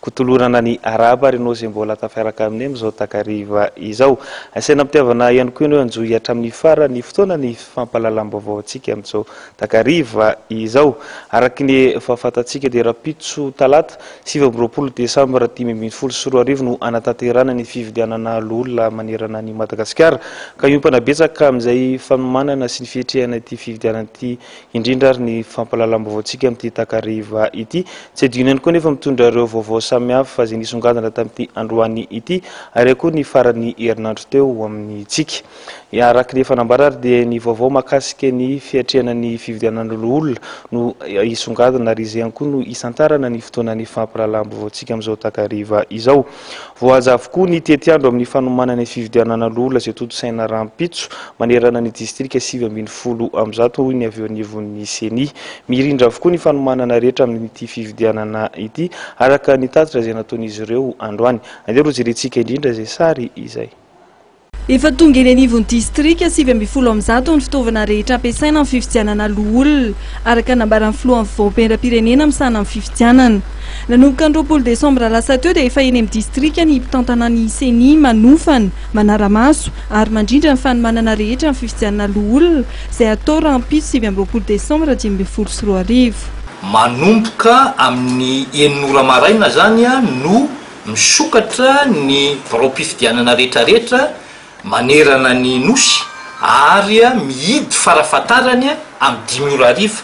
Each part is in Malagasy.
kotolorana ny Arabo ary Nosy mbola tafiaraka amin'i amin'izao takariva izao. Asaina am-pitiavana ihany koa ianao hanjohy hatramin'ny faran'ny fotoana ny fampahalalam-baovao antsika amin'izao takariva izao. Araka ny efa fantatsika dia rahampitso talata sivy amby roapolo desambra dimy ambin'ny folo sy roa arivo no hanatanterahana ny fifidianana loholona manerana an'i Madagasikara ka hiompana betsaka amin'izay fanomanana sy ny fiatrehana ity fifidianana ity indrindra ary ny fampahalalam-baovaontsika amin'ity takariva ity. Tsy adino ihany koa nefa mitondra ireo vaovao samihafa izay nisongadina tamin'ity androany ity ary ihany koa ny faran'ny herinandro teo ho amintsika. Araka ny efa nambara ary dia ny vaovao mahakasika ny fiatrehana ny fividianana loholona no hisongadina ary izay ihany koa no hisantarana ny fotoanan'ny fampahalalam-baovaontsika amin'izao takariva izao. Voahaja avokoa ny tetiandro amin'ny fanomanana ny fividianana loholona izay tontosaina rahampitso manerana ny distrika sivy ambin'ny folo amby zato, hoy ny avy eo anivon'ny Ceni. Mirindra avokoa ny fanomanana rehetra amin'ity fividianana ity, araka ny tatitra izay nataon'izy ireo androany. Andeha rojerentsika indrindra izay sary izay. Efa tonga eny anivon'ny distrika sivy ambin'ny folo amin'ny zato ny fitaovana rehetra ampiasaina amin'ny fifidianana loholona, araka ny nambaran'ny filohan'ny fivaompendram-pirenena misahana ny fifidianana. Nanomboka ny roapolo desambra lasa teo dia efa eny amin'ny distrika ny mpitantana ny Ceni manofana, manara-maso ary mandrindra ny fanomanana rehetra amin'ny fifidianana loholona izay hatao rahampitso sivy amby roapolo desambra dimy ambin'ny folo sy roa arivo. Manomboka amin'ny enina ora maraina izany no Misokatra ny biraom-pifidianana rehetrarehetra manerana ny Nosy ary mihidy farafahatarany amin'ny dimy ora hariva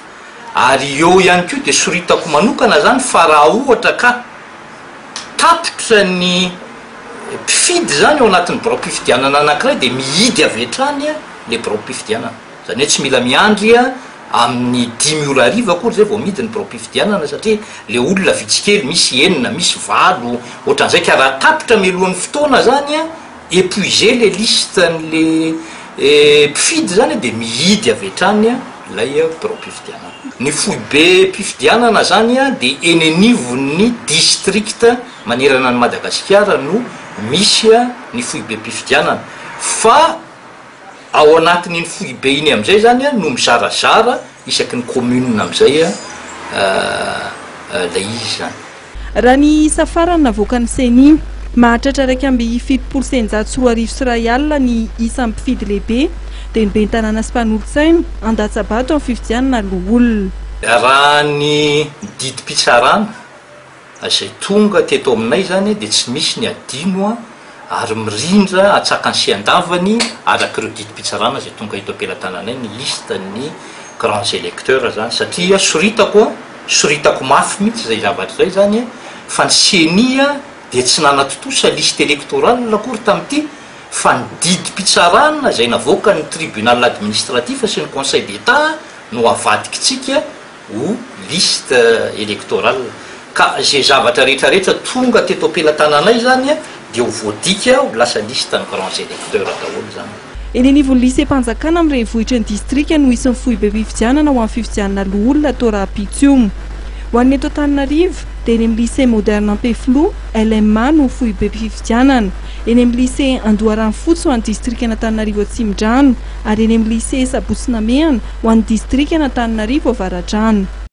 ary eo ihany koa dia soritako manokana izany fa raha ohatra ka tapitra ny mpifidy izany ao anatin'ny biraom-pifidianana anankiray dia mihidy avy hatrany ilay biraom-pifidianana. Izany hoe tsy mila miandry amin'ny dimy ora hariva akory izay vao midy ny biraom-pifidianana satria ilay olona vitsy kely, misy enina, misy valo, ohatran'izay ka raha tapitra mialohan'ny fotoana izany, épuiser ilay listen'ilay mpifidy izany dia mihidy avy hatrany ilay biraom-pifidianana. Ny foibem-pifidianana izany dia eny anivon'ny distrikta manerana an'i Madagasikara no misy ny foibem-pifidianana fa. Ao anatin'iny foibe iny amin'izay izany no mizarazara isaky ny commune amin'izay ilay izy izany. Raha ny isa farany navoakan'ny Ceni, mahatratra iraika amby fitopolo sy eninjato sy roa arivo sy iray alina ny isan'ny mpifidy lehibe, dia ny ben'ny tanàna sy mpanolotsaina, handatsa-bato amin'ny fifidianana loholona. Raha ny didim-pitsarana. Izay tonga teto aminay izany dia tsy misy ny adino an, ary mirindra hatsakany sy handavany araka ireo didim-pitsarana izay tonga eto am-pelatananay ny liste ny grands electeurs izany satria soritako an, soritako mafy mihitsy izay zavatra izay izany fa ny ceni an dia tsy nanatontosa liste electorale akory tamin'ity fa ny didim-pitsarana izay navoakan'ny tribunal administratif sy ny conseil d'etat no avadikintsika ou liste électorale, ka izay zavatra rehetra rehetra tonga teto am-pelatananay izany dia ho voadika ho lasa liste ny grands électeurs daholo izany. Eny anivon'ny Lycée-mpanjakana amin'ny renivohitry ny distrika no hisy ny foibem-pifidianana ho amin'ny fifidianana loholona atao rahampitso. Ho an'ny eto Antananarivo dia eny amin'ny Lycée Moderne Ampefiloha, LMA, no foibem-pifidianana. eny amin'ny Lycée Andoharanofotsy ho an'ny distrikan'Antananarivo Atsimondrano ary eny amin'ny Lycée Sabotsy Namehana ho an'ny distrikan'Antananarivo Avaradrano.